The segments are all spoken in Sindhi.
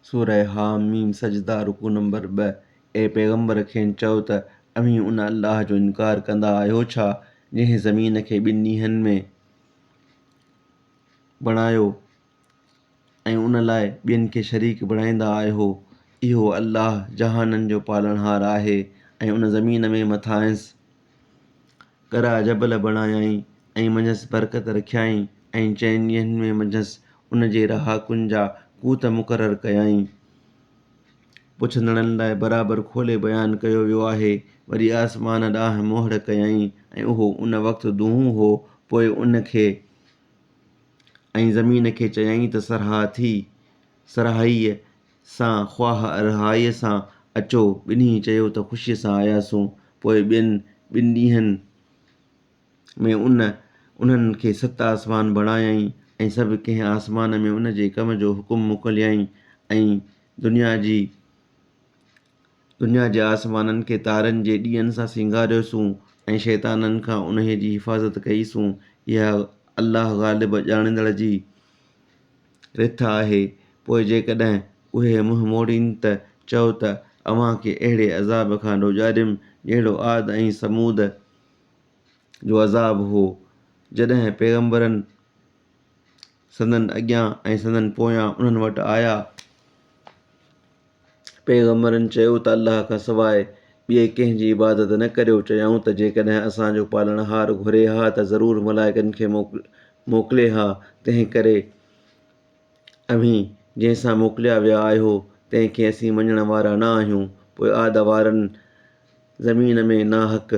سورة حٰ ميم سجده، رڪوع نمبر ٻه، اي پيغمبر کين چؤ ته اوهين ان الله جو انڪار ڪندا آهيو ڇا جنهن زمين کي ٻن ڏينهن ۾ بڻايو ۽ ان لاء ٻين کي شريڪ بڻائيندا آهيو اهو الله جهانن جو پالڻهار آهي ۽ ان زمين ۾ مٿانئس ڳرا جبل بڻايائين ۽ منجهس برڪت رکيائين ۽ چئن ڏينهن ۾ منجهس ان جي رهاڪن جا ڪوت مقرر ڪيائين. پڇندڙن لاء برابر کولي بيان ڪيو ويو آهي. وري آسمان ڏانهن مهڙ ڪيائين ۽ اهو ان وقت دونهون هو، پوء ان کي ۽ زمين کي چيائين ته سرهاء ٿي، سرهائيء، سان خواه ارهائيء سان اچو. ٻنهي چيو ته خوشيء سان آياسون. پوء ٻين ٻن ڏينهن ۾ ان انهن کي ست آسمان بڻايائين ۽ سڀ ڪنهن آسمان ۾ ان جي ڪم جو حڪم موڪليائين ۽ دنيا جي دنيا جي آسمانن کي تارن جي ڏيئن سان سينگاريوسون ۽ شيطانن کان انهيء جي حفاظت ڪئيسون، اها الله غالب ڄاڻيندڙ جي رٿ آهي، پوء جيڪڏهن اهي منهن موڙين ته چئو ته اوهان کي اهڙي عذاب کان ڊوڄاريم جهڙو عاد ۽ ثمود جو عذاب هو، جڏهن پيغمبرن سندن اڳيان ۽ سندن پويان انهن وٽ آيا، پيغمبرن چيو ته الله کان سواء ٻئي ڪنهن جي عبادت نه ڪريو، چيائون ته جيڪڏهن اسان جو پالڻهار گهري ها ته ضرور ملائڪن کي موڪلي ها، تنهن ڪري اوهين جنهن سان موڪليا ويا آهيو تنهن کي اسين مڃڻ وارا نه آهيون، پوء عاد وارن، زمين ۾ ناحق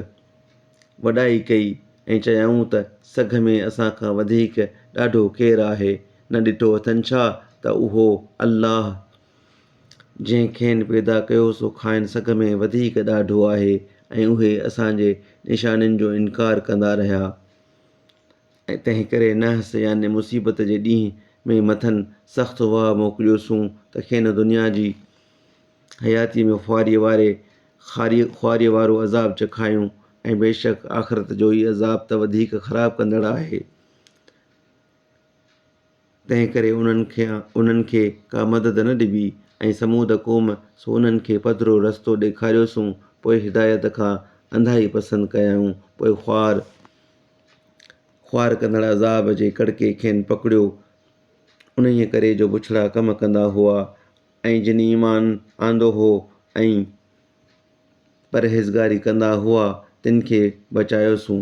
وڏائي ڪئي ۽ چيائون ته سگهه ۾ اسان کان وڌيڪ ڏاڍو ڪير آهي؟ نه ڏٺو اٿن ڇا ته اهو الله جنهن کين پيدا ڪيو سو کانئن سگهه ۾ وڌيڪ ڏاڍو آهي ۽ اهي اسان جي نشانين جو انڪار ڪندا رهيا ۽ تنهنڪري نحس يعني مصيبت جي ڏينهن ۾ مٿن سخت واء موڪليوسون ته کين دنيا جي حياتيء ۾ خواريء واري خاري خواريء وارو عذاب چکايون ۽ بيشڪ آخرت جو هي عذاب ته وڌيڪ خراب ڪندڙ آهي. تنهن ڪري انهن کي انهن کي ڪا مدد نه ڏبي ۽ ثمود قوم سو انهن کي پڌرو رستو ڏيکاريوسون پوء هدايت کان انڌائي پسند ڪيائون پوء خوار خوار ڪندڙ عذاب جي ڪڙڪي کين پڪڙيو انهيء ڪري جو بڇڙا ڪم ڪندا هئا ۽ جن ايمان آندو هو ۽ پرهيزگاري ڪندا هئا تن کي بچايوسون.